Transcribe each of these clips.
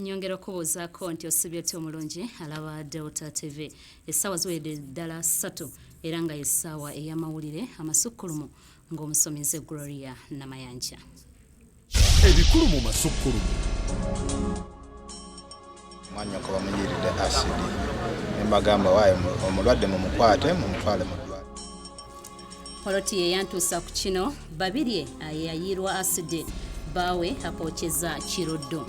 nyongera okubuuzaako nti osibye otya omulungi alaba delta tv essaawa ziwedde ddala ssatu era nga yessaawa ey'amawulire amasukkulumu ng'omusomi nze gloria namayanja ebikulu mu masukkulumu mwanyoko bamuyiiridde asidi ne mbagamba waayo omulwadde mumukwate mumutwale mu poloti ye yantuusa ku kino babirye ayeyayiirwa asidi baawe apookeza kiruddu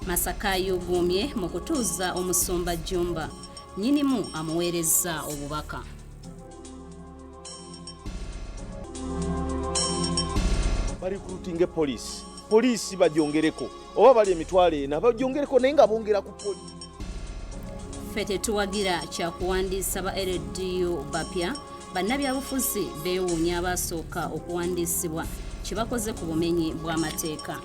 masaka yuguumye mu kutuuza omusumba jjumba nyinimu amuweerezza obubaka barekrutinge poliisi poliisi bajongereko oba bali emitwalo ena bajongereko naye nga bongera ku poliisi ffe tetuwagira kyakuwandiisa ba ldu bapya bannabyabufuzi beewuunya abaasooka okuwandiisibwa kye bakoze ku bumenyi bw'amateeka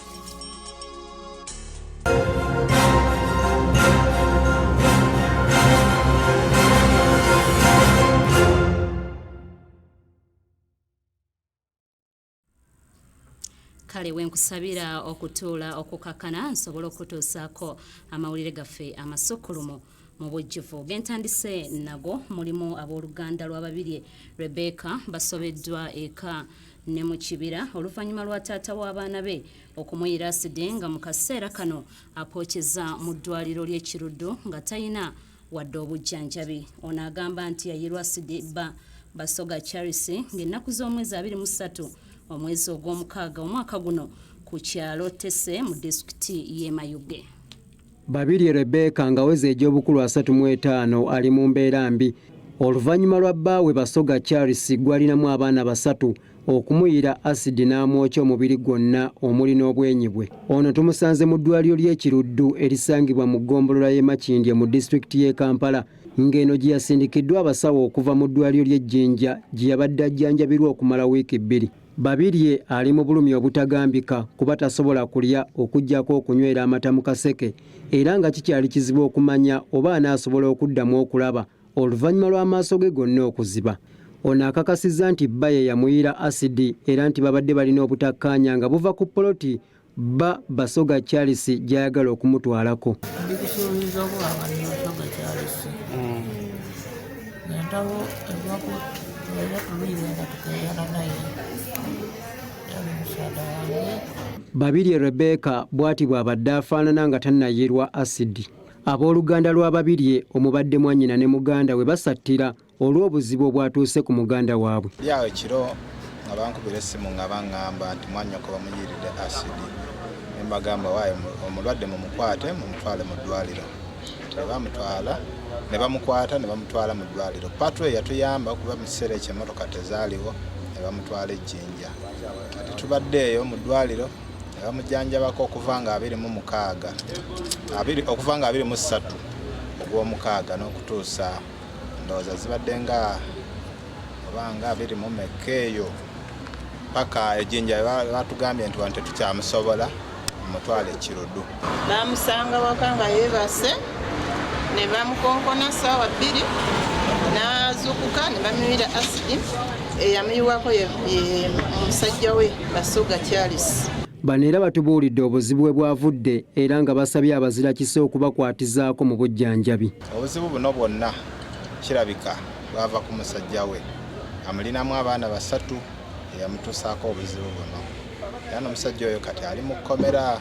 kale wenkusabira okutuula okukakkana nsobole okukutuusaako amawulire gaffe amasukkulumu mu bujjuvu gentandise nago mulimu abooluganda lwa babirye rebecca basobeddwa eka ne mu kibira oluvannyuma lwa taata w'abaana be okumuyira aside nga mu kaseera kano apookeza mu ddwaliro ly'ekiruddu nga talina wadde obujjanjabi ono agamba nti yayirwa aside bba basoga charles ng'ennaku z'omwezi 23 omwezi ogw'omukaaga omwaka guno ku kyalo tese mu disitulikiti y'emayuge Babirye Rebecca ng'aweza egy'obukulu asatu mu etaano ali mu mbeera mbi oluvannyuma lwa bbaawe Basoga Charles gw'alinamu abaana basatu okumuyiira asidi n'amwokya omubiri gwonna omuli n'obwenyi bwe. Ono tumusanze mu ddwaliro ly'e Kiruddu erisangibwa mu ggombolola y'e Makindye mu disitulikiti y'e Kampala ng'eno gye yasindikiddwa abasawo okuva mu ddwaliro ly'e Jinja gye yabadde ajjanjabirwa okumala wiiki bbiri. Babirye ali mu bulumi obutagambika kuba tasobola kulya okuggyako okunywera amata mu kaseke era nga kikyali kizibu okumanya oba anaasobola okuddamu okulaba oluvannyuma lw'amaaso ge gonna okuziba. Ono akakasizza nti bba ye yamuyiira asidi era nti babadde balina obutakkaanya nga buva ku poloti bba basoga charles gy'ayagala okumutwalako ndikusuubiza obwaba nyosoga charles nentawo evaku era tuluyiwe nga tukeyana naye yali musaada wange babirye rebeka bw'ati bw'abadde afaanana nga tannayirwa asidi abooluganda lwa babirye omubadde mwannyina ne muganda we basattira olw'obuzibu obwatuuse ku muganda waabwe. Yali awo ekiro nga bankubira essimu nga baŋŋamba nti mwannyoko bamuyiiridde asidi ne mbagamba waayo omulwadde mumukwate mumutwale mu ddwaliro ne bamutwala ne bamukwata ne bamutwala mu ddwaliro patro yatuyamba kuba mu kiseera ekyo emmotoka tezaaliwo ne bamutwala ejjinja kati tubadde eyo mu ddwaliro ne bamujjanjabako okuva nga abiri mu mukaaga okuva nga abiri mu ssatu ogw'omukaaga n'okutuusa ndowooza zibadde nga obanga biri mu mekka eyo paka ejinja batugambye nti wano tetukyamusobola mutwale ekirudu bamusanga waka nga yebase ne bamukonkona saawa bbiri nazukuka ne bamiwira asidi eyamuyiwako ye musajja we basuga charles bano era batubuulidde obuzibu bwe bwavudde era nga basabye abazirakisa okubakwatizaako mu bujjanjabi Obuzibu buno bwonna kirabika bwava ku musajja we amulinamu abaana basatu eyamutuusaako obuzibu buno era n'omusajja oyo kati ali mu kkomera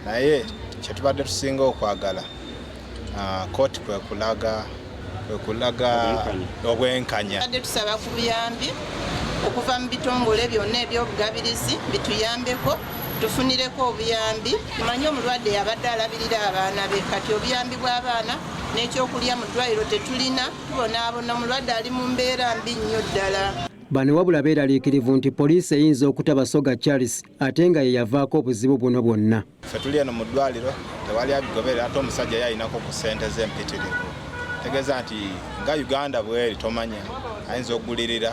naye kyetubadde tusinga okwagala ah, kooti kwekulaga kwekulaga obwenkanya badde tusaba ku buyambi okuva mu bitongole byonna ebyobugabirizi bituyambeko tufunireko obuyambi tumanye omulwadde yabadde alabirira abaana be kati obuyambi bw'abaana n'ekyokulya mu ddwaliro tetulina tubonaabona omulwadde ali mu mbeera mbi nnyo ddala bano wabula beeraliikirivu nti poliisi eyinza okuta basoga charles ate nga ye yavaako obuzibu buno bwonna fe tuli eno mu ddwaliro tewali abigoberera ate omusajja ye ayinako ku ssente z'empitirivu tegeeza nti nga uganda bweri tomanya ayinza okugulirira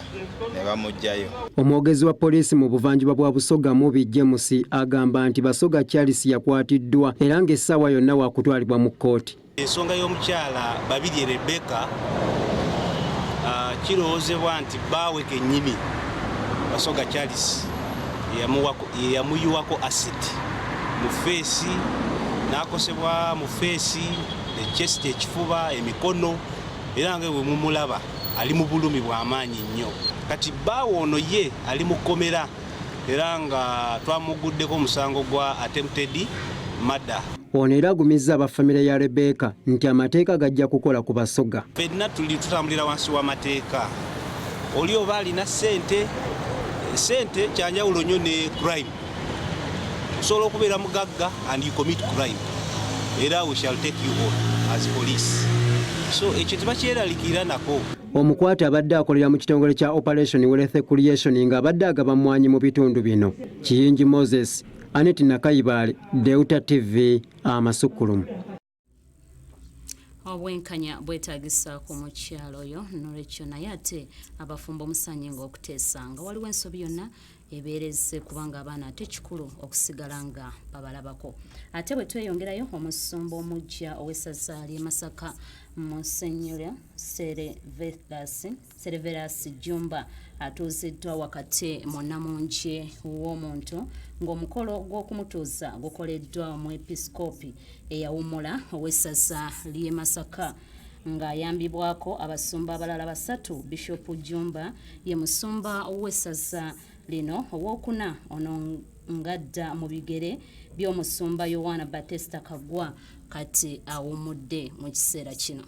ne bamuggyayo. Omwogezi wa poliisi mu buvanjuba bwa Busoga Mubi James agamba nti Basoga Charles yakwatiddwa era ng'essaawa yonna waakutwalibwa mu kkooti. Ensonga y'omukyala Babirye Rebecca ah, kirowoozebwa nti bbaawe kennyini Basoga Charles yeyamuyiwako asidi mu feesi n'akosebwa mu feesi ekyesiti ekifuba emikono era nga bwe mumulaba ali mu bulumi bw'amaanyi nnyo kati bbaawe ono ye ali mu kkomera era nga twamugguddeko omusango gwa attempted mada ono era agumizza aba famire ya rebeka nti amateeka gajja kukola ku basoga fenna tuli tutambulira wansi w'amateeka oli oba alina ssente ssente kyanjawulo nnyo ne crime osobola okubeera mugagga and you commit crime era we shall take you on as police so ekyo tebakyeralikira nako omukwate abadde akolera mu kitongole kya operation wealth creation nga abadde agaba mwanyi mu bitundu bino kiyingi moses anet nakayibaale deuta tv amasukkulumu obwenkanya bwetagisa ku mukyalo oyo nolwekyo naye ate abafumbo musanyi nga okuteesa nga waliwo ensobi yonna ebeereze kubanga abaana ate kikulu okusigala nga babalabako ate bwe tweyongerayo omusumba omujja ow'essaza ly'e masaka musenyera sere vethasi Serverus Jumba atuuziddwa wakati mu nnamungi w'omuntu ng'omukolo gw'okumutuuza gukoleddwa omwepisikoopi eyawummula ow'essaza ly'e Masaka ng'ayambibwako abasumba abalala basatu Bishop Jumba ye musumba w'essaza lino ow'okuna ono ngadda mu bigere by'omusumba Yowaana Batista Kagwa kati awummudde mu kiseera kino.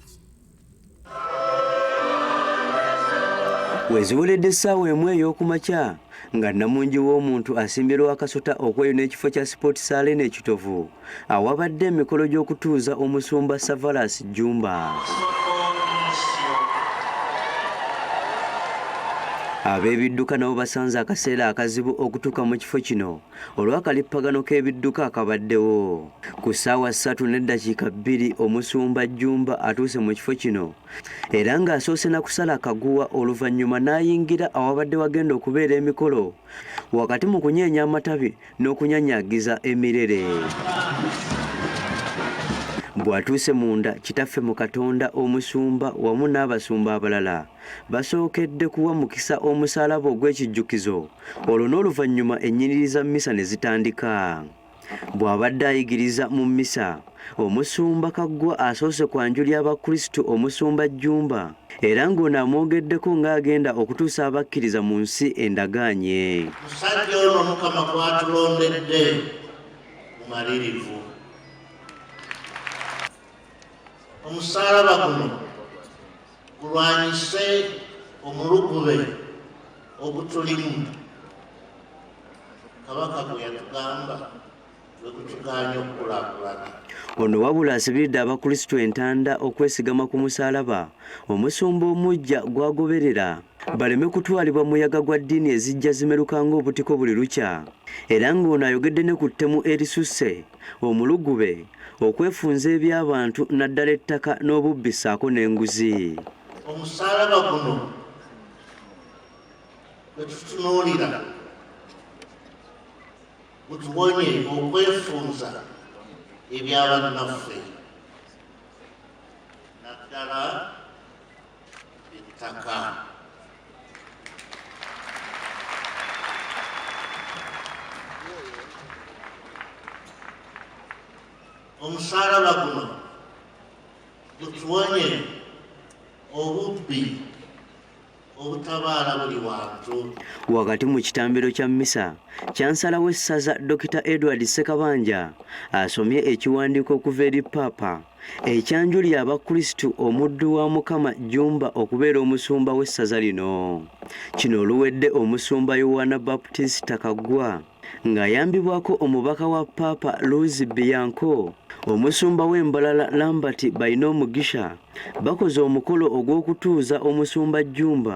weziweredde essaawa emu ey'okumakya nga nnamungi w'omuntu asimbye lwakasota okweyo n'ekifo kya sipooti saalena ekitovu awabadde emikolo gy'okutuuza omusumba savalas jjumba ab'ebidduka nabo basanze akaseera akazibu okutuuka mu kifo kino olw'akalippagano k'ebidduka akabaddewo ku ssaawa ssatu n'eddakiika bbiri omusumba jjumba atuuse mu kifo kino era ng'asoose na kusala akaguwa oluvannyuma n'ayingira awabadde wagenda okubeera emikolo wakati mu kunyeenya amatabi n'okunyanyagiza emirere bw'atuuse munda kitaffe mu katonda omusumba wamu n'abasumba abalala basookedde kuwa mukisa omusaalaba ogw'ekijjukizo olwo n'oluvannyuma ennyiriri za mmisa ne zitandika bw'abadde ayigiriza mu mmisa omusumba kaggwa asoose kwanjuli abakristu omusumba jjumba era ng'ono amwogeddeko ng'agenda okutuusa abakkiriza mu nsi endagaanye musajja ono mukama gwatulondedde mumalirivu omusaalaba guno kulwanyise omulugube ogutulimu kabaka gwe yatugamba wekutugaanya okukulakulana ono wabula asibiridde abakristu entanda okwesigama ku musalaba omusumba omujja gwagoberera baleme kutwalibwa muyaga gwa ddiini ezijja zimeruka ng'obutiko buli lukya era ng'ono ayogedde ne ku ttemu erisusse omulugube, okwefunza eby'abantu naddala ettaka n'obubbi ssaako n'enguzi. Omusaalaba guno bwe tutunuulira gutuwonye okwefunza eby'abannaffe naddala ettaka omusaalaba guno gutuwonye obubbi obutabaala buli wantu wakati mu kitambiro kya mmisa kyansala w'essaza dr edward ssekabanja asomye ekiwandiiko okuva eri paapa ekyanjulira abakristu omuddu wa mukama jumba okubeera omusumba w'essaza lino kino oluwedde omusumba yowana baputisita kaggwa ng'ayambibwako omubaka wa paapa luzi biyanko omusumba w'embalala lambert balina omugisha bakoze omukolo ogw'okutuuza omusumba jumba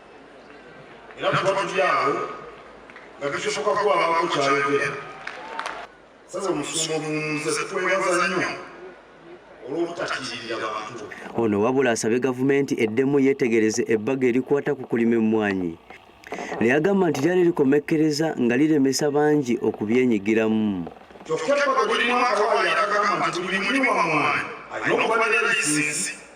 era tuba tuli awo nga tukisoka kuwabaako kyayogera sasa omusumba omuwumuze tukwebaza nnyo ono wabula asabe gavumenti eddemu yeetegereze ebbaga erikwata ku kulima emmwanyi neyagamba nti lyali likomekkereza nga liremesa bangi okubyenyigiramu kyokka ebbaga lirimu akawayakagamba nti buli mulimu wamwanyi ayina okubaneraisinzi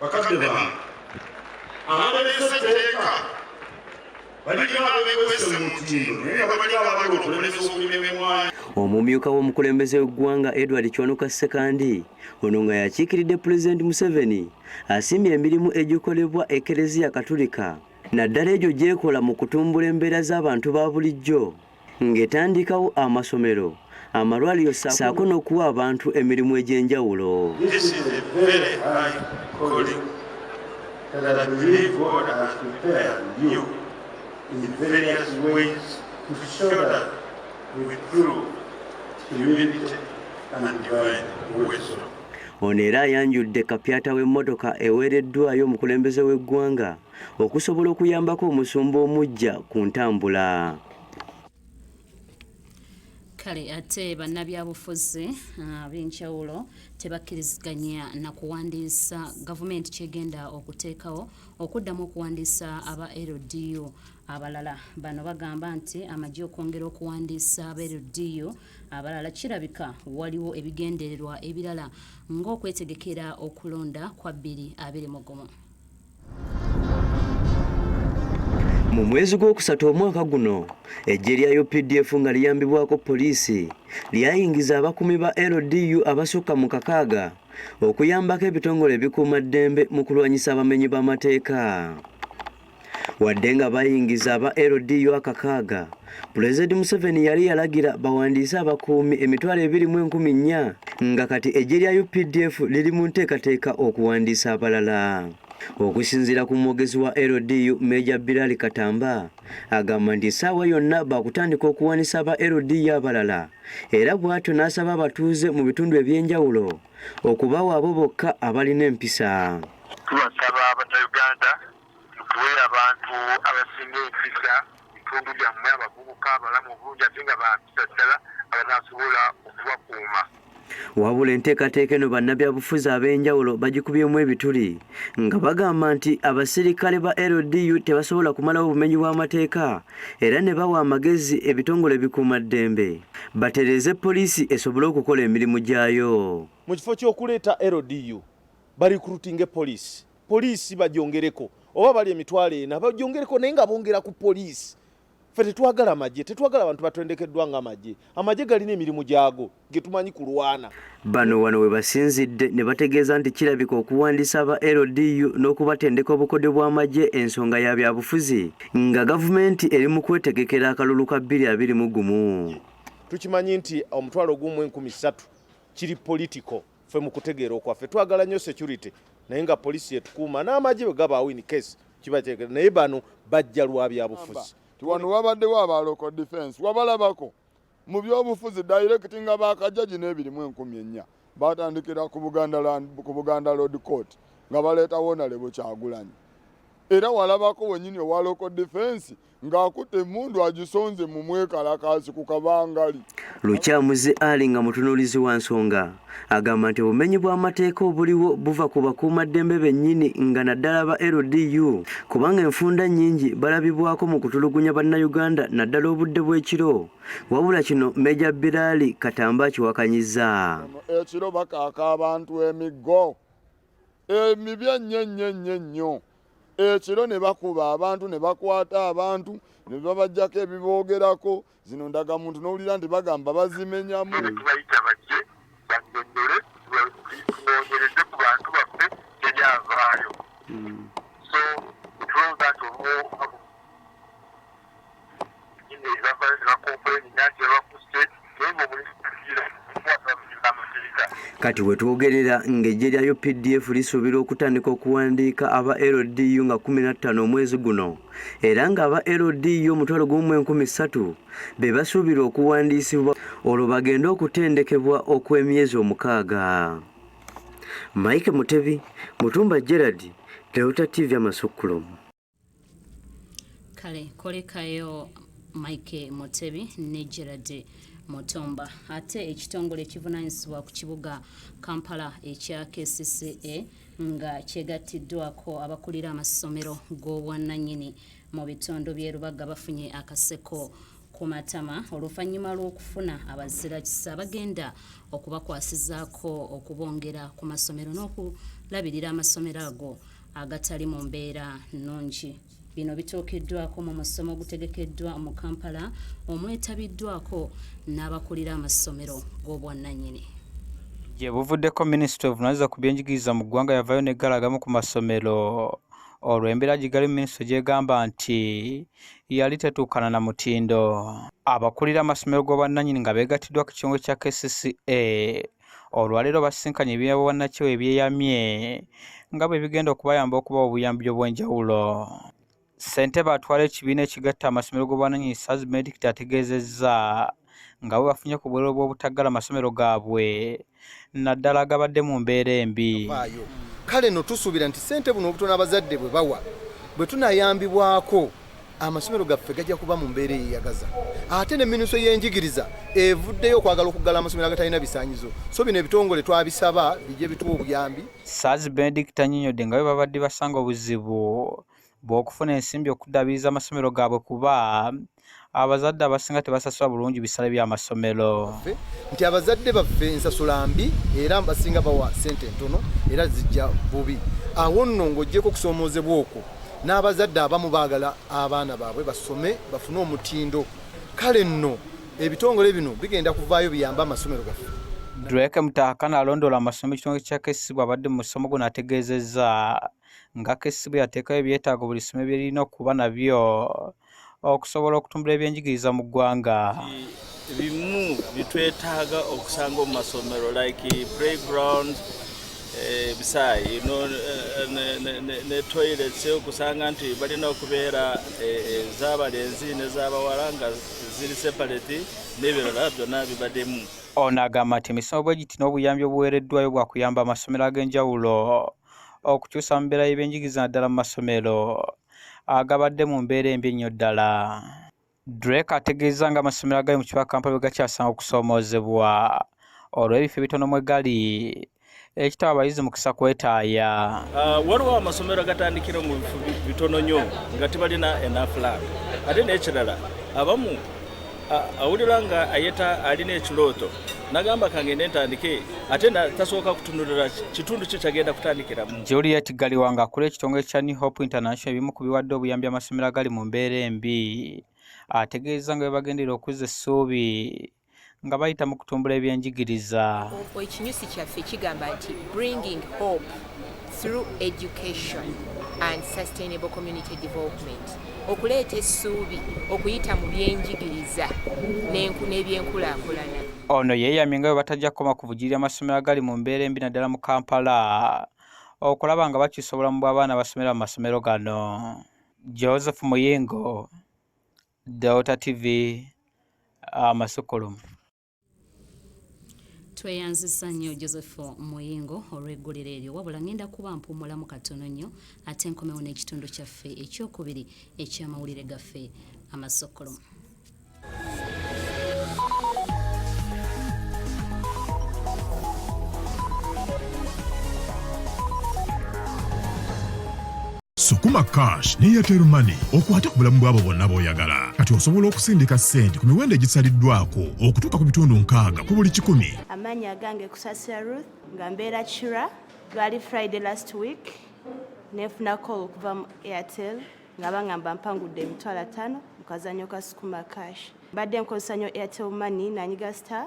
bakadde bange abaleese etteeka balina abekwese mu mutindo naye nga balina abagala okulemesa okulima emwanyi omumyuka w'omukulembeze w'eggwanga edward kyonoka sekandi ono nga yakiikiridde pulezidenti museveni asiimye emirimu egikolebwa ekereziya katulika naddala egyo gyekola mu kutumbula embeera z'abantu ba bulijjo ng'etandikawo amasomero amalwaliro saako n'okuwa abantu emirimu egy'enjawulo ono era ayanjudde kapyata w'emmotoka eweereddwayo omukulembeze w'eggwanga okusobola okuyambako omusumba omuggya ku ntambula kale ate bannabyabufuzi ah, ab'enjawulo tebakkiriziganya na kuwandiisa gavumenti kyegenda okuteekawo okuddamu okuwandiisa aba ldu abalala bano bagamba nti amagye okwongera okuwandiisa aba ldu abalala kirabika waliwo ebigendererwa ebirala ng'okwetegekera okulonda kwa bbiri abiri mugumu Mu mwezi gw'okusatu omwaka guno eggye lya UPDF nga liyambibwako poliisi lyayingiza abakuumi ba LDU abasukka mu kakaaga okuyambako ebitongole ebikuuma ddembe mu kulwanyisa abamenyi b'amateeka. Wadde nga bayingiza aba LDU akakaaga Pulezidenti Museveni yali yalagira bawandiise abakuumi emitwalo ebiri mu enkumi nnya nga kati eggye lya UPDF liri mu nteekateeka okuwandiisa abalala. Okusinziira ku mwogezi wa LDU Meeja Bilal Katamba agamba nti essaawa yonna baakutandika okuwanisa aba LDU abalala era bw'atyo n'asaba abatuuze mu bitundu eby'enjawulo okubawa abo bokka abalina empisa. Tubasaba Bannayuganda tuwe abantu abasinga empisa bitundu byammwe abavubuka abalamu obulungi ate nga bampisa ddala abanasobola okubakuuma wabula enteekateeka eno bannabyabufuzi ab'enjawulo bagikubyemu ebituli nga bagamba nti abasirikale ba ldu tebasobola kumalawo obumenyi bw'amateeka era ne bawa amagezi ebitongole bikuuma ddembe batereeze poliisi esobole okukola emirimu gyayo mu kifo ky'okuleeta ldu balikrutinge poliisi poliisi bajongereko oba bali emitwalo ena bajongereko naye nga bongera ku poliisi fe tetwagala magye tetwagala bantu batendekeddwa nga magye amagye galina emirimu gyago getumanyi kulwana bano wano webasinzidde ne bategeeza nti kirabika okuwandisa aba ldu n'okubatendeka obukodyo bw'amagye ensonga ya byabufuzi nga gavumenti eri mu kwetegekera akalulu ka 221 tukimanyi nti omutwalo gumu enkumi ssatu kiri political ffe mu kutegeera okwaffe twagala nnyo security naye nga poliisi yetukuuma n'amagye bwe gabaawo in case kiba kyekera naye bano bajja lwa byabufuzi wano wabaddewo aba local defense wabalabako mu byobufuzi direct nga bakajaji n'ebirimu enkumi ennya batandikira ku buganda road court nga baleeta wonalebo kyagulanyi era walabako wenyini owa local defense ng'akutte emmundu agisonze mu mwekalakaasi ku kabangali lukyamuzi ali nga mutunuulizi wa nsonga agamba nti obumenyi bw'amateeka obuliwo buva ku bakuumaddembe bennyini nga naddala ba ldu kubanga enfunda nnyingi balabibwako mu kutulugunya bannayuganda naddala obudde bw'ekiro wabula kino meja biraali katamba akiwakanyiza ekiro bakaaka abantu emiggo emibi ennyo ennyo ennyo ennyo ekiro ne bakuba abantu ne bakwata abantu ne babajjako ebiboogerako zino ndagamuntu n'owulira nti bagamba bazimenyamu Kati wetwogerera ng'eggye lya UPDF lisuubira okutandika okuwandiika aba LDU nga 15 omwezi guno era ng'aba LDU omutwalo gumu mu enkumi ssatu be basuubirwa okuwandiisibwa olwo bagende okutendekebwa okw'emyezi omukaaga. Mike Mutebi, Mutumba Gerald, Delta TV Amasukkulumu. kale kolekayo mike mutebi ne gerard mutumba ate ekitongole ekivunanyizibwa ku kibuga kampala ekya kcca nga kyegattiddwako abakulira amasomero g'obwannanyini mu bitundu by'e lubaga bafunye akaseko ku matama oluvannyuma lw'okufuna abazirakisa bagenda okubakwasizaako okubongera ku masomero n'okulabirira amasomero ago agatali mu mbeera nnungi bino bituukiddwako mu musomo ogutegekeddwa mu kampala omwetabiddwako n'abakulira amasomero g'obwannanyini gye buvuddeko minisita ovunaanyizibwa ku byenjigiriza mu ggwanga yavayo n'eggala agamu ku masomero olwo embeera gigalimu minisitule gyegamba nti yali tetuukana na mutindo abakulira amasomero g'obwannanyini nga beegattiddwa ku kitongole kya kcca olwaleero basisinkanye ebibiina bwannakyewa ebyeyamye nga bwe bigenda okubayamba okubawa obuyambi obw'enjawulo ssentebe atwala ekibiina ekigatta amasomero g'obwananyini saz medict ategeezezza nga bwe bafunye ku bwerero bw'obutaggala masomero gaabwe naddala agabadde mu mbeera embi kale no tusuubira nti ssente buno obutono abazadde bwe bawa bwe tunayambibwako amasomero gaffe gajja kuba mu mbeera eyeyagaza ate ne minuso y'enjigiriza evuddeyo okwagala okuggala amasomero agatalina bisanyizo so bino ebitongole twabisaba bijje bituwa obuyambi sars benedict anyinyodde nga bwe babadde basanga obuzibu bw'okufuna ensimbi okuddaabiriza amasomero gaabwe kuba abazadde abasinga tebasasula bulungi bisale by'amasomero nti abazadde baffe ensasula mbi era basinga bawa sente entono era zijja bubi awo nno ng'ogyeko okusoomoozebwa okwo N'abazadde abamu baagala abaana baabwe basome bafune omutindo kale nno ebitongole bino bigenda kuvaayo biyambe amasomero gaffe. Drake Mutahakana alondoola amasomo ekitongole kya KCB abadde mu musomo guno ategeezezza nga KCB yateekayo ebyetaago buli ssomero bye lirina okuba nabyo okusobola okutumbula ebyenjigiriza mu ggwanga bimu bitwetaaga okusanga omu masomero like playground ebisaayi eh, no eh, ne toilets okusanga nti balina okubeera ezabalenzi eh, nezabawala nga ziri separate n'ebirala byonna bibaddemu ono agamba nti emisomo bwe giti n'obuyambi obuweereddwayo bwakuyamba amasomero ag'enjawulo okukyusa mu mbeera y'ebyenjigiriza naddala mu masomero agabadde mu mbeera embi ennyo ddala. Drake ategeezza nga amasomero agali mu kibuga Kampala bwe gakyasanga okusoomoozebwa olw'ebifo ebitono mwe gali ekitawa abayizi mukisa kwetaaya. Ah, waliwo amasomero agatandikira mu bifo bitono nnyo nga tebalina enafulanga ate n'ekirala abamu awulira nga ayeta alina ekirooto nagamba kangende ntandike ate tasooka kutunulira kitundu kye kyagenda kutandikiramu juliet galiwa nga akula ekitongole kya new hope international ebimu ku biwadde obuyambi amasomero agali mu mbeera embi ategeeza nga bebagendera okuzza essuubi nga bayita mu kutumbula ebyenjigiriza ekinyusi kyaffe kigamba nti bringing hope through education and sustainable community development okuleeta essuubi okuyita mu byenjigiriza n'ebyenkulaakulana ono yeeyamye nga bwe batajja kukoma ku bugirira amasomero agali mu mbeera embi naddala mu kampala okulaba nga bakyusa obulamu bw'abaana abasomera mu masomero gano joseph muyingo delta tv amasukulumu ah, tweyanzisa nnyo joseph muyingo olw'eggulire eryo wabula ngenda kuba mpumulamu katono nnyo ate nkomewo n'ekitundu kyaffe ekyokubiri eky'amawulire gaffe amasokolo Sukuma Cash ne Airtel Money okwate ku bulamu bw'abo bonna b'oyagala. Kati osobola okusindika ssente ku miwendo egisaliddwako okutuuka ku bitundu nkaaga ku buli kikumi. Amaanyi agange Kusasira Ruth nga mbeera Kira. Lwali Friday last week nefuna call okuva mu Airtel nga bangamba mpangudde emitwalo ataano mu kazanyo ka Sukuma Cash. Mbadde nkozesa nnyo Airtel Money nanyiga star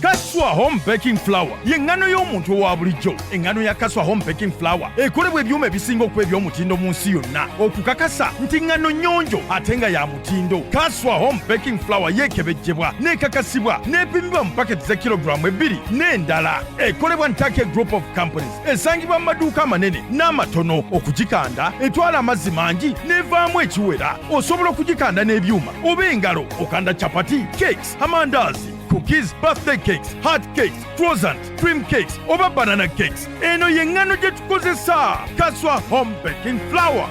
kaswa home baking flour y'eŋŋano y'omuntu owa bulijjo eŋŋano ya kaswa home baking flour ekolebwa ebyuma ebisinga okuba eby'omutindo mu nsi yonna okukakasa nti ŋŋano nnyonjo ate nga ya mutindo kaswa home baking flour yeekebejjebwa n'ekakasibwa n'epimibwa mu paketi za kilogulaamu ebbiri n'endala ekolebwa ntake group of companies esangibwa mu maduuka amanene n'amatono okugikanda etwala amazzi mangi n'evaamu ekiwera osobola okugikanda n'ebyuma oba engalo okanda capati cakes amandazi cookies birthday cakes hard cakes frozen cream cakes oba banana cakes eno yeŋŋano gye tukozesa kaswa home baking flower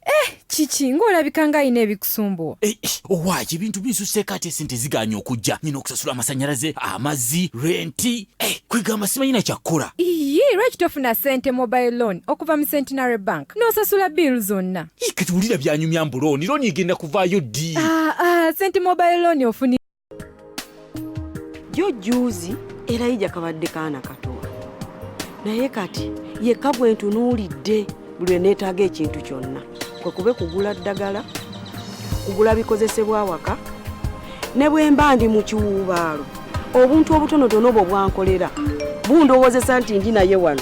eh kiki ng'olabika nga alina ebikusumbuwa eh, eh, owaaki ebintu binsuseeko ate sente ziganye okujja nyina okusasula amasanyalaze amazzi renti eh, kwegamba simanyina kyakkola iye lwaki tofuna sente mobile loan okuva mu centenary bank n'osasula bill zonna kati wulira byanyumya mbu looni looni egenda kuvaayo ddi ah, ah, senti mobile looni ofuni jo juuzi era yija kabadde kaana katowa naye kati yekka gwe ntunuulidde buli lwe neetaaga ekintu kyonna kwe kube kugula ddagala kugula bikozesebwa awaka ne bwe mba ndi mu kiwuubaalo obuntu obutonotono obwo bwankolera bundowoozesa nti ndi naye wano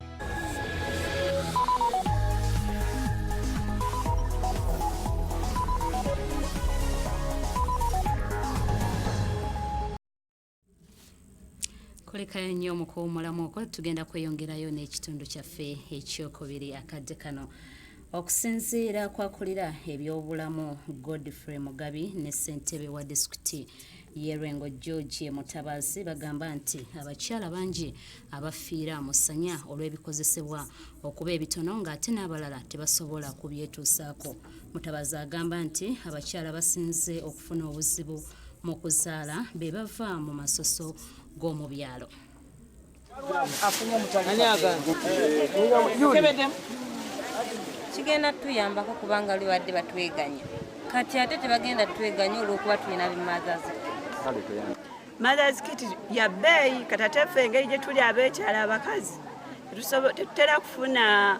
kulekayo nnyo mu kuwumulamu okwo tugenda kweyongerayo n'ekitundu kyaffe ekyokubiri akadde kano okusinziira kwakulira ebyobulamu godfrey mugabi ne ssentebe wa disitulikiti Yerwengo George Mutabazi bagamba nti abakyala bangi abafiira musanya olw'ebikozesebwa okuba ebitono ng'ate n'abalala tebasobola kubyetuusaako. Mutabazi agamba nti abakyala basinze okufuna obuzibu mu kuzaala be bava mu masoso g'omu byalo. kigenda tuyambako kubanga lubadde batweganya kati ate tebagenda tweganya olwokuba tulina bimazaz mothers kit ya bbeeyi katatefe engeri gyetuli abekyala abakazi tetutera kufuna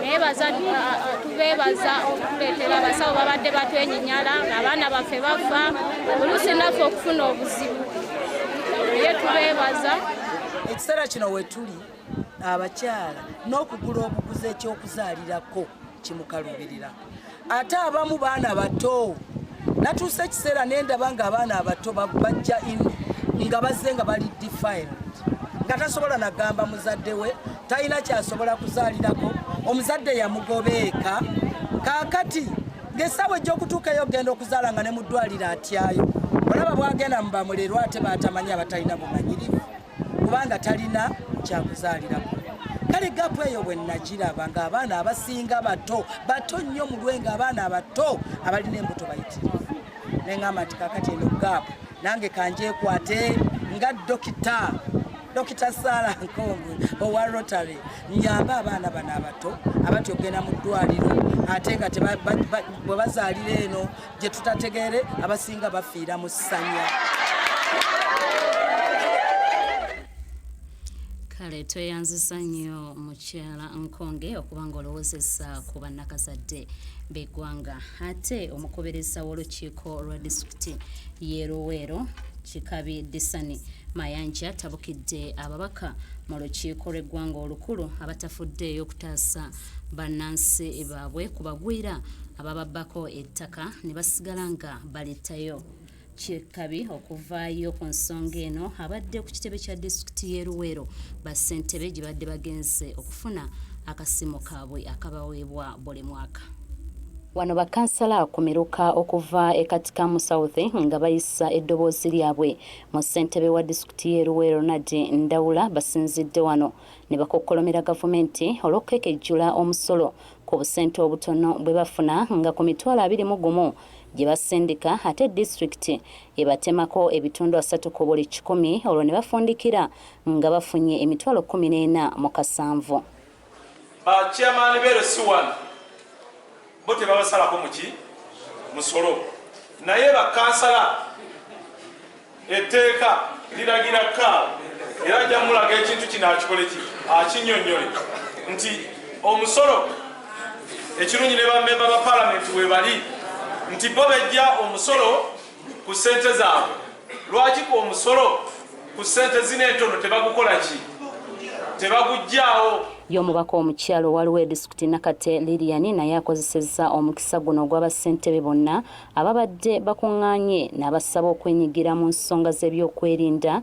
naye tubeebaza okutuleetera abasawo babadde batwenyinyala abaana baffe bafa oluusi naffe okufuna obuzibu naye tubeebaza ekiseera kino wetuli abakyala n'okugula obuguzi eky'okuzaalirako kimukalubirira ate abamu baana bato natuusa ekiseera nendaba nga abaana abato bajja in nga bazze nga bali defiled nga tasobola nagamba muzadde we talina kyasobola kuzaalirako omuzadde yamugobeeka kaakati ngesaawa ejjokutuukayo okugenda okuzaala nga ne mu ddwaliro atyayo olaba bwagenda mu bamulerwa ate batamanyi abatalina bumanyirivu kubanga talina kyakuzaalirako kale gapu eyo bwe nnagiraba ng'abaana abasinga bato bato nnyo mu lwe ng'abaana abato abalina embuto bayitirivu ne ŋamba nti kakati eno gapu nange kanjekwate nga dokita dokita sara nkonge owa rotary nyamba abaana bano abato abatya okugenda mu ddwaliro ate nga bwe bazaalira eno gye tutategeere abasinga bafiira mu ssanya kale tweyanzisa nnyo mukyala nkonge okuba nga olowozesa ku bannakazadde beggwanga ate omukubirizza w'olukiiko lwa disitulikiti ye luweero kikabi disani mayanja tabukidde ababaka mu lukiiko lw'eggwanga olukulu abatafuddeeyo okutaasa bannansi baabwe ku bagwira abababbako ettaka ne basigala nga balittayo kyekabi okuvaayo ku nsonga eno abadde ku kitebe kya disitulikiti y'e luweero bassentebe gye badde bagenze okufuna akasimu kaabwe akabaweebwa buli mwaka wano bakansala kumiruka okuva e katikamu south nga bayisa eddoboozi lyabwe mu ssentebe wa disitulikiti y'e luweero nadi ndawula basinzidde wano ne bakokkolomera Gavumenti olw'okukekejjula omusolo ku busente obutono bwe bafuna nga ku mitwalo abiri mu gumu gye basindika ate disitulikiti ebatemako ebitundu asatu ku buli kikumi olwo ne bafundikira nga bafunye emitwalo kkumi n'ena mu kasanvu. Ba Chairman be LC1. bo tebabasalako muki musolo naye bakansala etteeka liragira kaawo era ajja mulaga ekintu kino akikole ki akinyonyole nti omusolo ekirungi ne bamemba ba palamenti webali nti bo bejja omusolo ku ssente zaabwe lwaki ku omusolo ku ssente zino entono tebagukola ki tebagujjaawo ye omubaka omukyalo waliwo edisitulikiti nakate lilian naye akozesezza omukisa guno ogw'abassentebe bonna ababadde bakuŋŋaanye n'abasaba okwenyigira mu nsonga z'ebyokwerinda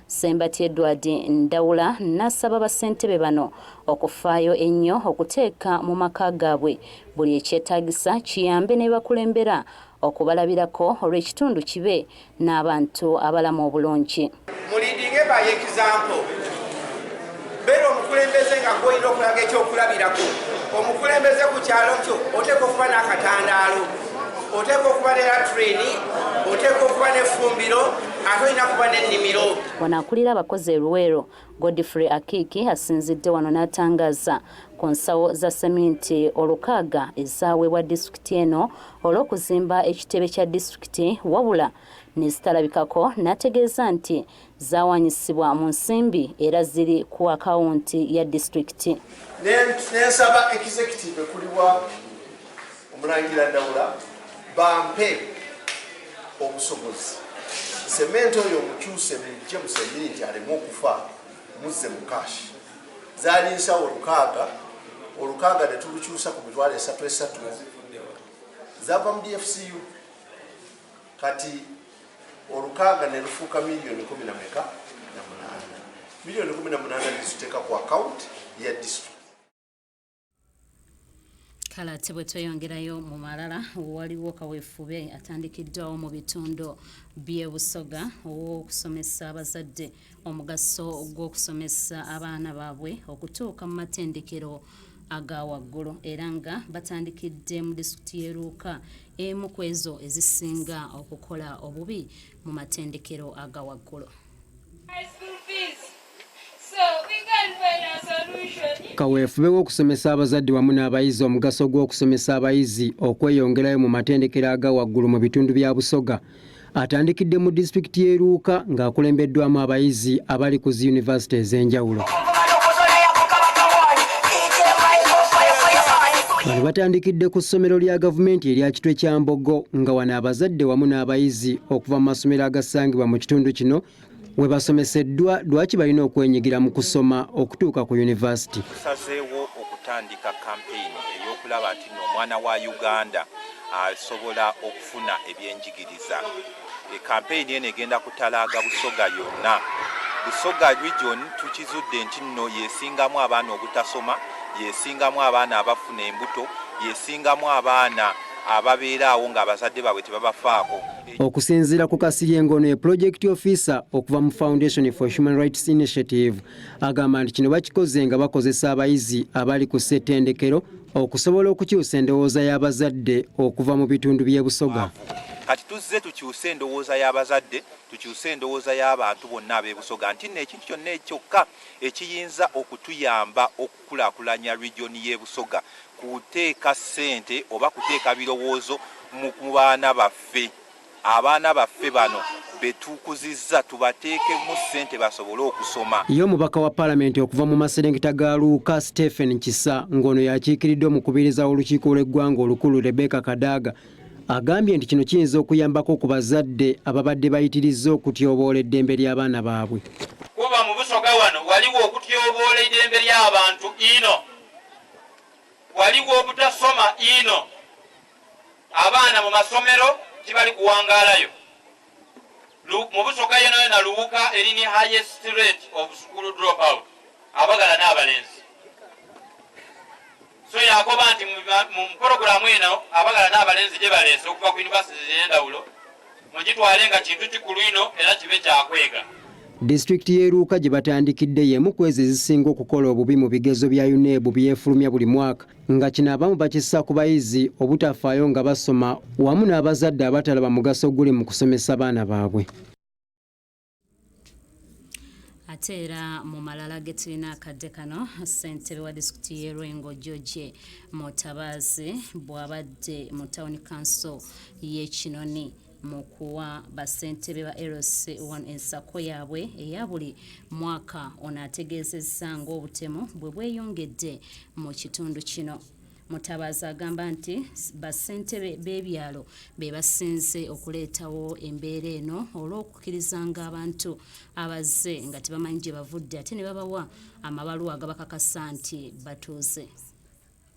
Ssembatya Edward Ndawula n'asaba bassentebe bano okufaayo ennyo okuteeka mu maka gaabwe buli ekyetaagisa kiyambe ne bakulembera okubalabirako olwo ekitundu kibe n'abantu abalamu obulungi. beera omukulembeze nga gwolina okulaga ekyokulabirako omukulembeze ku kyalo kyo oteeka okuba n'akatandaalo oteeka okuba ne latrini oteeka okuba n'effumbiro ate olina kuba n'ennimiro wano akulira abakozi eruweero godfrey akiiki asinzidde wano n'atangaza ku nsawo za seminti olukaaga ezaweebwa disitulikiti eno olw'okuzimba ekitebe kya disitulikiti wabula nezitalabikako n'ategeeza nti zaawanyisibwa mu nsimbi era ziri ku akawunti ya disitulikiti. N'ensaba executive ekulibwa Omulangira Ndawula bampe obusobozi sementi oyo omukyuse mujje musemiri nti aleme okufa muzze mu kashi zaali nsawo olukaaga olukaaga ne tulukyusa ku mitwalo esatu esatu zava mu dfcu kati olukaaga ne lufuuka miliyoni kumi na meka na munaana miliyoni kumi na munaana neziteeka ku akawunti ya district kale ate bwe tweyongerayo mu malala waliwo kaweefube atandikiddwawo mu bitundu by'e busoga ow'okusomesa abazadde omugaso gw'okusomesa abaana baabwe okutuuka mu matendekero aga waggulu era nga batandikidde mu disitulikiti y'e Luuka emu ku ezo ezisinga okukola obubi mu matendekero aga waggulu kaweefube w'okusomesa abazadde wamu n'abayizi omugaso gw'okusomesa abayizi okweyongerayo mu matendekero aga waggulu mu bitundu bya busoga atandikidde mu disitulikiti y'e Luuka ng'akulembeddwamu abayizi abali ku zi yunivasite ez'enjawulo. Bano batandikidde ku ssomero lya gavumenti erya Kitwe kya Mbogo nga wano abazadde wamu n'abayizi okuva mu masomero agasangibwa mu kitundu kino we basomeseddwa lwaki balina okwenyigira mu kusoma okutuuka ku yunivasiti. Tusazeewo okutandika kampeyini ey'okulaba nti no omwana wa Uganda asobola okufuna ebyenjigiriza. E, kampeyini eno egenda kutalaaga Busoga yonna. Busoga region tukizudde nti nno yesingamu abaana obutasoma, yesingamu abaana abafuna embuto, yesingamu abaana ababeeraawo ng'abazadde baabwe tebabafaako. Okusinziira ku Kasirye ng'ono ye Project Officer okuva mu Foundation for Human Rights Initiative agamba nti kino bakikoze nga bakozesa abayizi abali ku ssettendekero okusobola okukyusa endowooza y'abazadde okuva mu bitundu by'e Busoga. Kati tuzze tukyuse endowooza y'abazadde tukyuse endowooza y'abantu bonna ab'e Busoga nti nno ekintu kyonna ekyokka ekiyinza okutuyamba oku kukulaakulanya Region y'e Busoga, kuteeka ssente oba kuteeka birowoozo mu mu baana baffe. Abaana baffe bano be tukuzizza tubateekemu ssente basobole okusoma. Ye omubaka wa Palamenti okuva mu maserengeta ga Luuka, Stephen Kisa ng'ono y'akiikiridde omukubiriza w'olukiiko lw'eggwanga olukulu Rebecca Kadaga, Agambye nti kino kiyinza okuyambako ku bazadde ababadde bayitirizza okutyoboola eddembe ly'abaana baabwe. Kuba mu Busoga wano waliwo okutyoboola eddembe ly'abantu ino, waliwo obutasoma ino, abaana mu masomero tibali kuwangaalayo. mu busoga yona yona luwuka elini highest rate of school drop out abagala n'abalenzi so yakoba nti mu puroguramu eno abagala n'abalenzi gye baleese okuva ku yunivasiti z'endawulo mugitwale nga kintu kikulu ino era kibe kyakwega disitulikiti y'eruuka gye batandikidde y'emu ku ezo ezisinga okukola obubi mu bigezo bya unebu byefulumya buli mwaka nga kino abamu bakissa ku bayizi obutafaayo nga basoma wamu n'abazadde abatalaba mugaso guli mu kusomesa baana baabwe ate era mu malala ge tulina akadde kano ssentebe wa disitulikiti y'e lwengo george mutabaazi bw'abadde mu tawuni kanso y'ekinoni mu kuwa bassentebe ba LC one ensako yaabwe eya buli mwaka ono ategeezezza ng'obutemu bwe bweyongedde mu kitundu kino Mutabaazi agamba nti bassentebe b'ebyalo be basinze okuleetawo embeera eno olw'okukirizanga abantu abazze nga tebamanyi gye bavudde ate ne babawa amabaluwa agabakakasa nti batuuze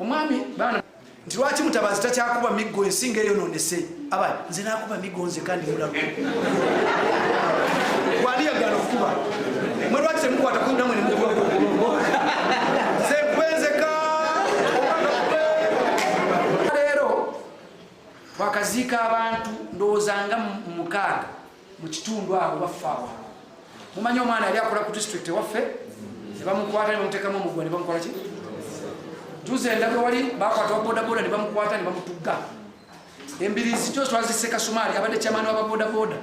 omwami baana nti lwaki mutabazi takyakuba miggo ensinga eyononese aba nze nakuba miggo nze kandi mulago waliyagala okukuba mwe lwaki temukwata kunamwe nemukuba twakaziika abantu ndowooza nga mukaaga mu kitundu awo baffe awo mumanyi omwana yali akola ku district ewaffe ne bamukwata ne bamuteekamu omugwa ne bamukola ki juzi endaga wali bakwata wabodaboda ne bamukwata ne bamutugga embirizi kyo twazise kasumaali abadde kyamaani wa babodaboda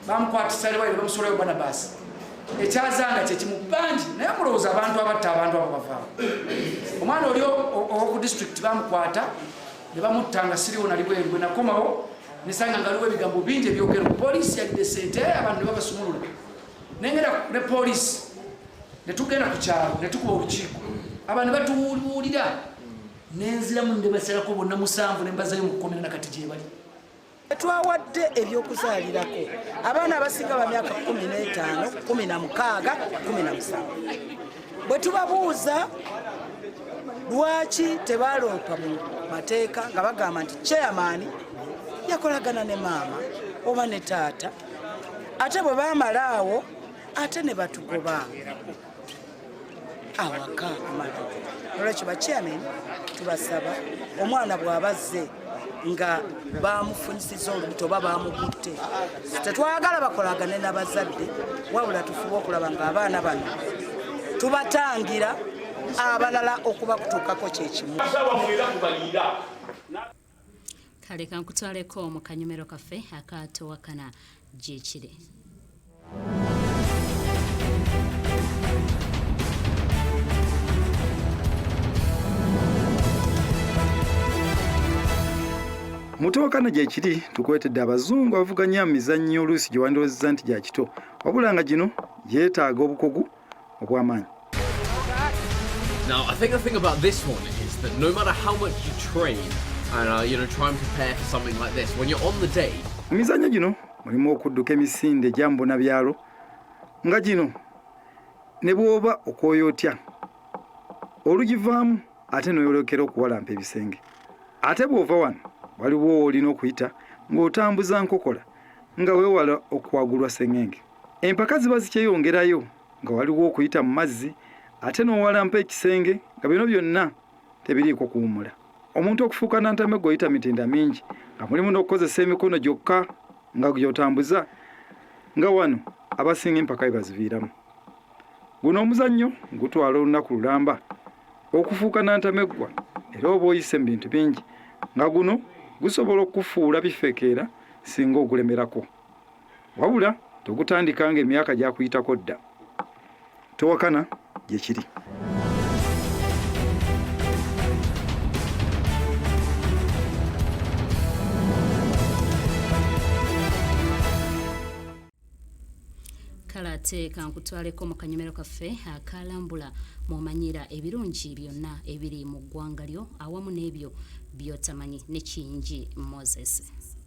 bamukwatisa liwali ne bamusulayo banabasi ekyazanga kyekimu bangi naye mulowooza abantu abatta abantu abo bavaawo omwana oli owoku district bamukwata ne bamutta nga siriwo nali bweru bwe nakomawo nesanga nga aliwo ebigambo bingi ebyogero poliisi yalidde sente eh, abantu ne babasumulula nengera ne poliisi ne tugenda ku kyalo ne tukuba olukiiko abantu batuwuliwulira nenziramu ne basalako bonna musanvu ne mbazayo mu kkomera na kati gyebali twawadde ebyokuzaalirako abaana abasinga ba myaka 15 16 17 bwe tubabuuza lwaki tebaloopa mu mateeka nga bagamba nti chairman yakolagana ne maama oba ne taata ate bwe bamala awo ate ne batugoba awaka kumata olwekyo bachairman tubasaba omwana bwabazze nga bamufunyisiza olubuto oba bamukutte tetwagala bakolagane nabazadde wabula tufuba okulaba nga abaana bano tubatangira abalala okubakutuukako kyekimu kale kankutwaleko mu kanyumero kaffe akaatowakana gyekiri mutowakana gyekiri tukwetedde abazungu abavuganya mizannyo oluusi gye wandowozeza nti gya kito wabula nga gino yeetaaga obukugu obw'amaanyi Now, I think the thing about this one is that no matter how much you train and uh, you know try and prepare for something like this, when you're on the day, mu mizannyo gino mulimu okudduka emisinde egyambuna byalo nga gino ne bw'oba okwoya otya olugivaamu ate n'oyolekera okuwalampa ebisenge ate bw'ova wano waliwo woolina okuyita ng'otambuza nkokola nga weewala okuwagulwa sengenge Empaka ziba zikyeyongerayo nga waliwo okuyita mu mazzi ate n'owalampa ekisenge nga bino byonna tebiriiko kuwumula. Omuntu okufuuka nantameggo oyita mitinda mingi nga mulimu n'okukozesa emikono gyokka nga gy'otambuza nga wano abasinga empaka bye baziviiramu. Guno omuzannyo gutwala olunaku lulamba okufuuka nantameggwa era oba oyise mu bintu bingi nga guno gusobola okukufuula bifekeera singa ogulemerako. wabula togutandika nga emyaka gyakuyitako dda towakana gyekiri ate kankutwaleko mu kanyomero kaffe akalambula mumanyira ebirungi byonna ebiri mu ggwanga lyo awamu n'ebyo byotamanyi ne kiyingi moses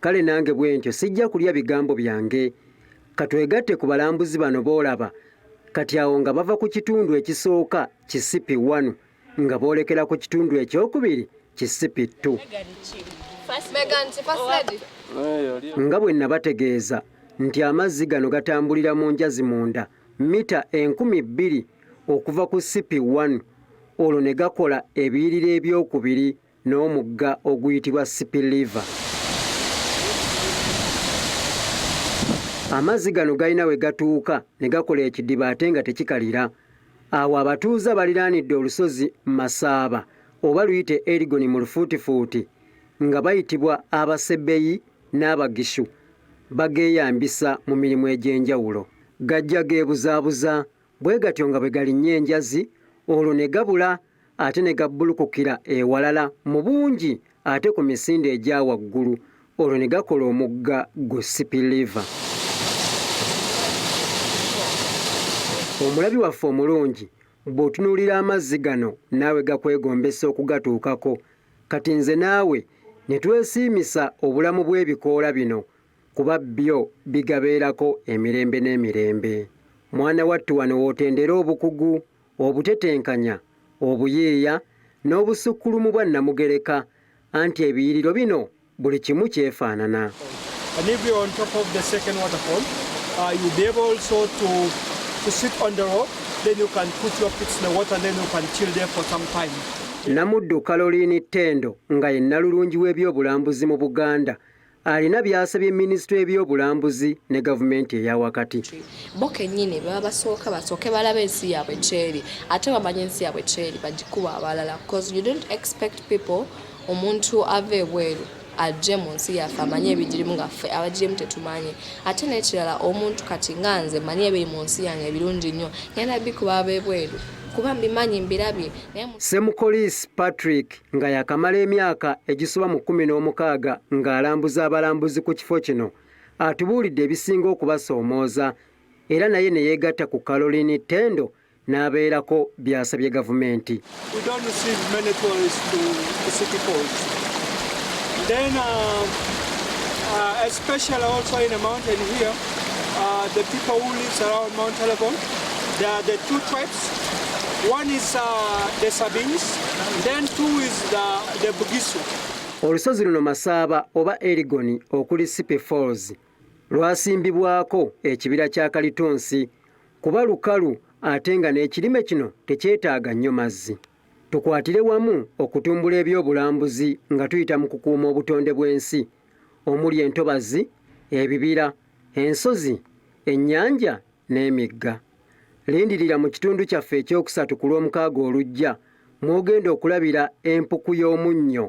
kale nange bwentyo sijja kulya bigambo byange katwegatte ku balambuzi bano boolaba kati awo nga bava ku kitundu ekisooka kisipi wanu nga boolekera ku kitundu ekyokubiri kisipi ttu nga bwe nabategeeza nti amazzi gano gatambulira mu njazi munda mita enkumi bbiri okuva ku sipi wanu olwo ne gakola ebiyirira ebyokubiri n'omugga oguyitibwa Sipiliva. Amazzi gano galina we gatuuka ne gakola ekidiba ate nga tekikalira. Awo abatuuze abaliraanidde olusozi Masaaba oba luyite Erigoni mu lufuutifuuti nga bayitibwa Abasebeyi n'Abagishu bageeyambisa mu mirimu egy'enjawulo. Gajja geebuzaabuza bwe gatyo nga bwe galinnya enjazi olwo ne gabula ate ne gabbulukukira ewalala mu bungi ate ku misinde egya waggulu olwo ne gakola omugga gu sipiliva. Omulabi waffe omulungi bw'otunuulira amazzi gano naawe gakwegombesa okugatuukako kati nze naawe ne twesiimisa obulamu bw'ebikoola bino kuba byo bigabeerako emirembe n'emirembe. Mwana wattu wano w'otendera obukugu obutetenkanya, obuyiiya n'obussukkulumu bwa Nnamugereka anti ebiyiriro bino buli kimu kyefaanana. And if you're on top of the second waterfall, uh, you'll be able also to, to sit on the rope, then you can put your feet in the water, then you can chill there for some time. Namuddu Caroline Tendo nga ye nnalulungi w'ebyobulambuzi mu Buganda alina byasabye minisitule y'ebyobulambuzi ne gavumenti eyawakati bo kennyini baba basooka basooke balaba ensi yaabwe kyeri ate bamanye ensi yaabwe kyeri bagikuba abalala bcause you don't expect people omuntu ava ebweru ajje mu nsi yaffe amanye ebigirimu nga ffe abagirimu tetumanyi ate n'ekirala omuntu kati nga nze manyi ebiri mu nsi yange ebirungi nnyo ngenda bikuba ab'ebweru kuba mbimanyi mbirabye semukolisi patrick nga yakamala emyaka egisoba mu kkumi n'omukaaga ng'alambuza abalambuzi ku kifo kino atubuulidde ebisinga okubasoomooza era naye ne yeegatta ku Caroline Tendo n'abeerako byasabye gavumenti uh, uh, One is uh, the Sabines, then two is the, the Bugisu. Olusozi luno Masaaba oba Erigoni okuli Sipe Falls lwasimbibwako ekibira kya kalitunsi kuba lukalu ate nga n'ekirime kino tekyetaaga nnyo mazzi. Tukwatire wamu okutumbula ebyobulambuzi nga tuyita mu kukuuma obutonde bw'ensi omuli entobazi, ebibira, ensozi, ennyanja n'emigga. Lindirira mu kitundu kyaffe ekyokusatu ku Lwomukaaga olujja mw'ogenda okulabira empuku y'omunnyo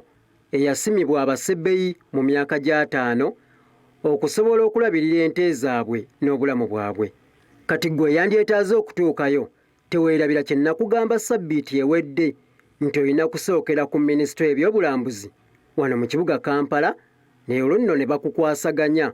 eyasimibwa abasebei mu myaka gy'ataano okusobola okulabirira ente zaabwe n'obulamu bwabwe. Kati ggwe eyandyetaaze okutuukayo teweerabira kye nnakugamba ssabbiiti ewedde nti olina kusookera ku minisitule y'ebyobulambuzi wano mu kibuga Kampala ne olwo nno ne bakukwasaganya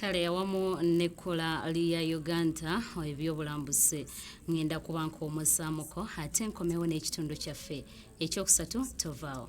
kale awamu n'ekkola lya uganda ebyobulambuzi ŋŋenda kuba nk'omusaamuko ate nkomewo n'ekitundu kyaffe ekyokusatu tovaawo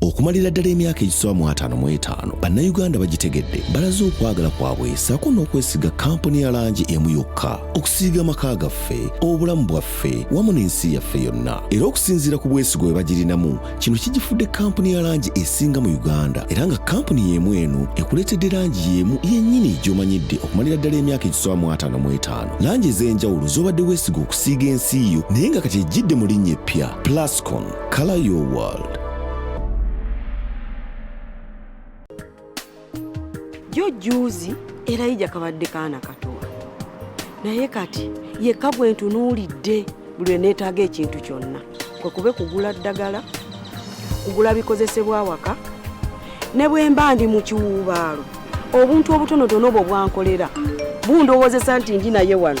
okumalira ddala emyaka egisoba mu ataano mu etaano bannayuganda bagitegedde balaze okwagala kwabwe saako n'okwesiga kampuni ya langi emu yokka okusiiga amaka gaffe obulamu bwaffe wamu n'ensi yaffe yonna era okusinziira ku bwesigwa bwe bagirinamu kino kigifudde kampuni ya langi esinga mu uganda era nga kampuni y'emu eno ekuleetedde langi y'emu yennyini gy'omanyidde okumalira ddala emyaka egisoba mu ataano mu etaano langi ez'enjawulo z'obadde weesiga okusiiga ensi yo naye nga kati ejjidde mu linnya eppya plascon Color your world. Yo juzi era ija kabadde kaana katowa naye kati yekka bwe ntunuulidde buli eneetaaga ekintu kyonna kwe kube kugula ddagala kugula bikozesebwa awaka ne bwe mba ndi mu kiwuubaalo obuntu obutonotono obwo bwankolera bundowoozesa nti ndi naye wano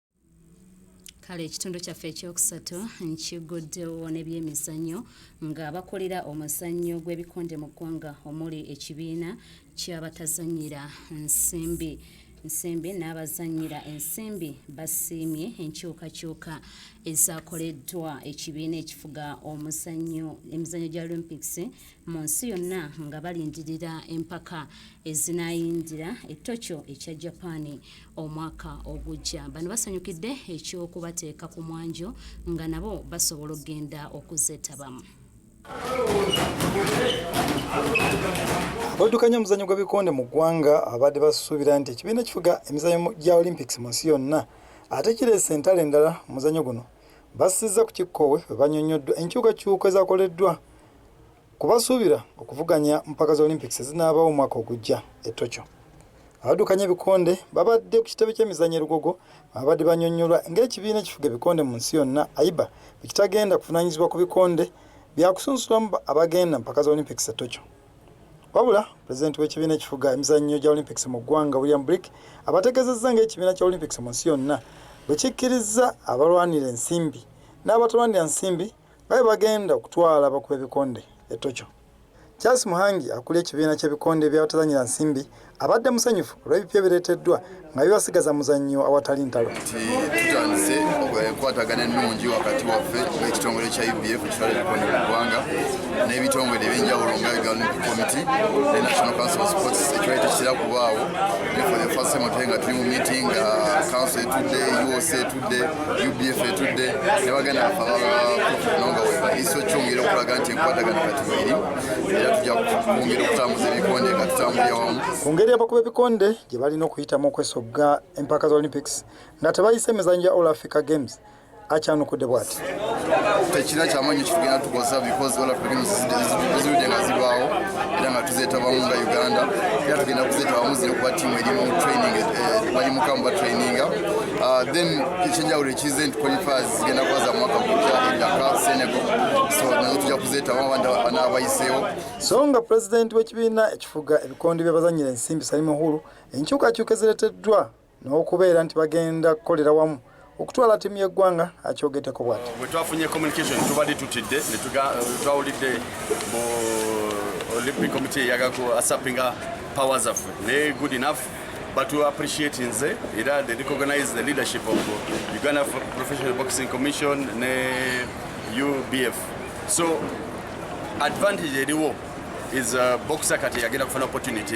kale ekitundu kyaffe ekyokusatu nkiguddewo nebyemizannyo nga bakolera omuzannyo gw'ebikonde mu ggwanga omuli ekibiina kyabatazanyira nsimbi nsimbi n'abazanyira ensimbi basiimye enkyukakyuka ezakoleddwa ekibiina ekifuga omuzannyo emizannyo gya olympics mu nsi yonna nga balindirira empaka ezinaayingira ettokyo ekya japan omwaka ogujja bano basanyukidde ekyokubateeka ku mwanjo nga nabo basobola okugenda okuzeetabamu abaddukanya omuzanyo gw'ebikonde mu ggwanga abadde basuubira nti ekibiina ekifuga emizanyo gya olympics mu nsi yonna ate kireese entalo endala muzanyo guno bassizza ku kikkoowe bwe banyonnyoddwa enkyukakyuka ezakoleddwa Ku basuubira okuvuganya mu mpaka za Olympics ezinaabaawo omwaka ogujja e Tokyo, abaddukanya ebikonde babadde ku kitebe ky'emizannyo e Lugogo mwe babadde bannyonnyolwa ng'ekibiina ekifuga ebikonde mu nsi yonna, AIBA, bwe kitagenda kuvunaanyizibwa ku bikonde bya kusunsulamu abagenda mu mpaka za Olympics e Tokyo. Wabula pulezidenti w'ekibiina ekifuga emizannyo gya Olympics mu ggwanga William Brick abategeezezza ng'ekibiina kya Olympics mu nsi yonna bwe kikkirizza abalwanira ensimbi n'abatalwanira nsimbi nga bwe bagenda okutwala abakuba ebikonde e Tokyo. Charles Muhangi akulira ekibiina ky'ebikonde eby'abatazannyira nsimbi abadde musanyufu olw'ebipya ebireeteddwa nga bibasigaza muzannyo awatali ntalo. Tutandise enkwatagana ennungi wakati waffe ekitongole kya UBF ekitwala ebikonde mu ggwanga n'ebitongole ebyenjawulo nga Olympic Committee ne National Council of Sports ekiwayi tekitera kubaawo ne for the first time nga tuli mu meeting uh, council etudde UOC etudde UBF etudde ne bagenda afaanonga webaliisa okyongera okulaga nti enkwatagana kati weeri era tujja kwongera okutambuza ebikonde nga tutambulira wamu ku ngeri abakuba ebikonde gye balina okuyitamu okwesogga empaka za olympics nga tebayise emizanyo gya all africa games akyanukudde bwati tekirina kyamanyi kitugenda tukoza because all african zizudde nga zibaawo era nga tuzetabamu nga uganda era tugenda kuzetabamu ziri kuba tiimu erimu training eh, bali mukamu batraininga ah, then ekyenjawulo ekize nti qualifiers zigenda kuba za mwaka gujja edaka senegal so nazo tujja kuzetabamu banaabayiseewo so nga pulezidenti w'ekibiina ekifuga ebikondi by'abazanyira ensimbi salimu hulu enkyukakyuka ezireteddwa n'okubeera nti bagenda kukolera wamu okutwala ttiimu y'eggwanga akyogedeko bwati bwe twafunye communication tubadde tutidde twawulidde mu olympic committee eyaga ku asapinga power zaffe naye good enough but we appreciate nze era they recognize the leadership of uganda professional boxing commission ne ubf so advantage eriwo is uh, boxer kati yagenda kufuna opportunity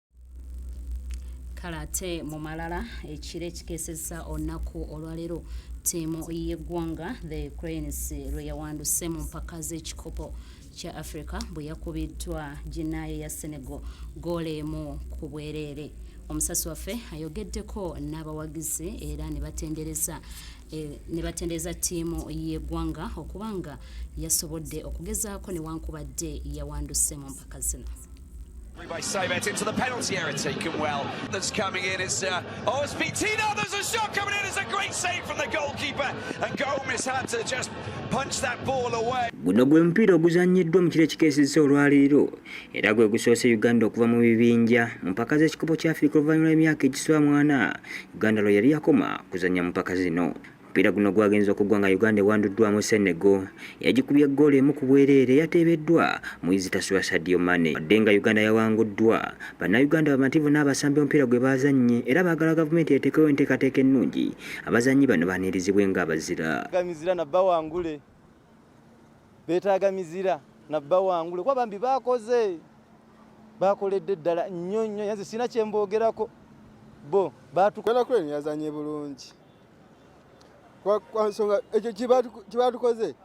kale ate mu malala ekiro ekikeseza olunaku olwaleero ttiimu y'eggwanga the cranes lwe yawanduse mu mpaka z'ekikopo kya africa bwe yakubiddwa ginaayo ya senegal goola emu ku bwereere omusasi waffe ayogeddeko n'abawagizi era ne batendereza Eh, ne batendereza ttiimu y'eggwanga okuba nga yasobodde okugezaako newankubadde yawanduse mu mpaka zino by Saybet into the penalty area, taken well. That's coming in, it's uh, oh, it's Vitina, there's a shot coming in, it's a great save from the goalkeeper, and Gomes had to just punch that ball away. Guno gwe mupiira oguzannyiddwa mu kiro ekikeesezza olwaleero era gwe gusoose Uganda okuva mu bibinja mu mpaka z'ekikopo kya Afirika oluvannyuma lw'emyaka egiswa mwana Uganda lwe yali yakoma kuzannya mu mpaka zino. Omupiira guno gwagenze okugwa nga Uganda ewanduddwamu Senegal yagikubye ggoolo emu ku bwereere yateebeddwa mu izitasubwa Sadio Mane. Wadde nga Uganda yawanguddwa, Bannayuganda bamativu n'abasambi omupiira gwe baazannye era baagala gavumenti eteekewo enteekateeka ennungi abazannyi bano baanirizibwe ng'abazira. Gamizira na bawangule beetaaga mizira na bawangule kuba bambi baakoze baakoledde ddala nnyo nnyo yanze sirina kye mboogerako bo baatukola kwe yazannye bulungi. kwa nsonga ekyo kyebatukoze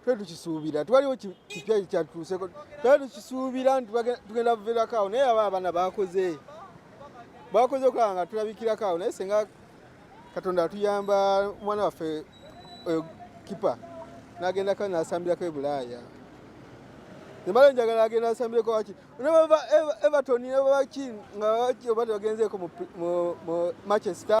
twe tukisuubira twaliwo kipya kyatuuseko twe tukisuubira nti tugenda buvirako awo naye aba abana bakoze bakoze okulaba nga tulabikirako awo naye senga katonda atuyamba omwana waffe oyo kipa nagendako nasambirako ebulaaya nembala njagala agenda asambireko waki nebava everton nebavaki nga oba tebagenzeeko mu manchester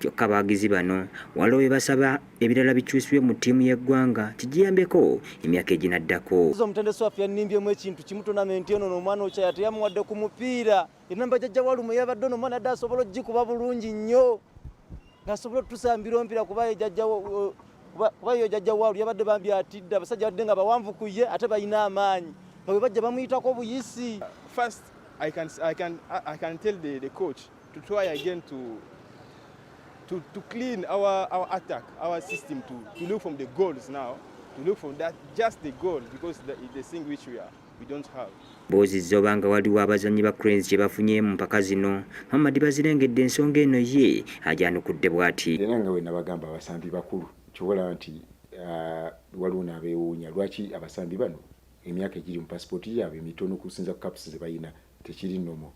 kyokka abawagizi bano waliwo bye basaba ebirala bikyusibwe mu ttiimu y'eggwanga kigiyambeko emyaka eginaddako omutendesi waffe yannimbyemu ekintu kimu tonamenti eno nomwana okyaya teyamuwadde ku mupiira enamba jajja walumu yabadde ono omwana yadde asobola okugikuba bulungi nnyo nasobola otutusa mbiro mpira kuba ejajjawo kuba yo jajja waalu yabadde bambi atidde abasajja badde nga bawanvu ku ye ate balina amaanyi nga bwe bajja bamuyitako obuyisi first i can, I can, I can tell the, the coach to try again to to, to clean our, our attack, our system to, to look from the goals now, to look from that, just the goal, because the, the thing which we are. Buuzizza obanga waliwo abazannyi ba Cranes kye bafunye mu mpaka zino, Muhammad Bazirengedde ensonga eno ye agyanukudde bw'ati. Era nga bwe nabagamba abasambi bakulu kyobola nti ah, waliwo n'abeewuunya lwaki abasambi bano emyaka egiri mu pasipooti yaabwe mitono kusinza ku kapusi ze balina tekiri nomo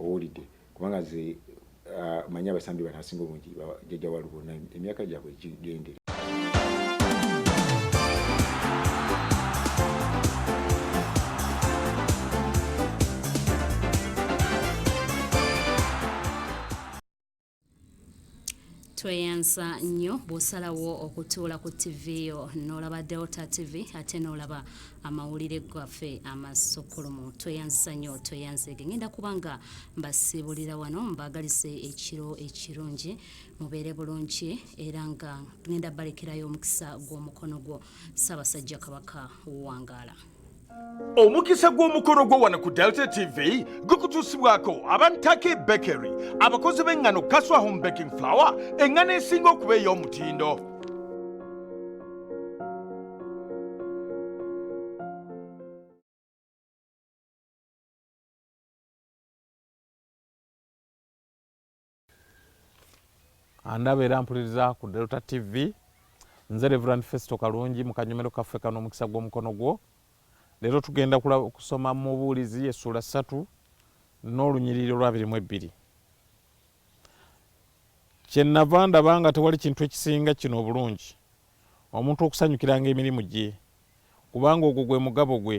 owulidde kubanga ze uh, manyi abasambi bano asinga obungi jajja walubona emyaka gyabwe gigendere tweyanza nnyo bw'osalawo okutuula ku ttivi yo n'olaba delta tv ate n'olaba amawulire gaffe amasokkulumu tweyanzisa nnyo tweyanzeege ngenda kuba nga mbasiibulira wano mbaagalize ekiro ekirungi mubeere bulungi era nga ngenda balekerayo omukisa gw'omukono gwo ssaabasajja kabaka wangaala omukisa gw'omukolo gwo wano ku delta tv gukutuusibwako abantake bakery abakozi b'eŋŋano kaswa home baking flower eŋŋano esinga okuba ey'omutindo andaba era mpuliriza ku delta tv nze reverand festo kalungi mu kanyomero kaffe kano omukisa gw'omukono gwo leero tugenda kusoma mu buulizi essuula ssatu n'olunyiriri olwabiri mu ebbiri kyenava ndaba nga tewali kintu ekisinga kino obulungi omuntu okusanyukiranga emirimu gye kubanga ogwo gwe mugabo gwe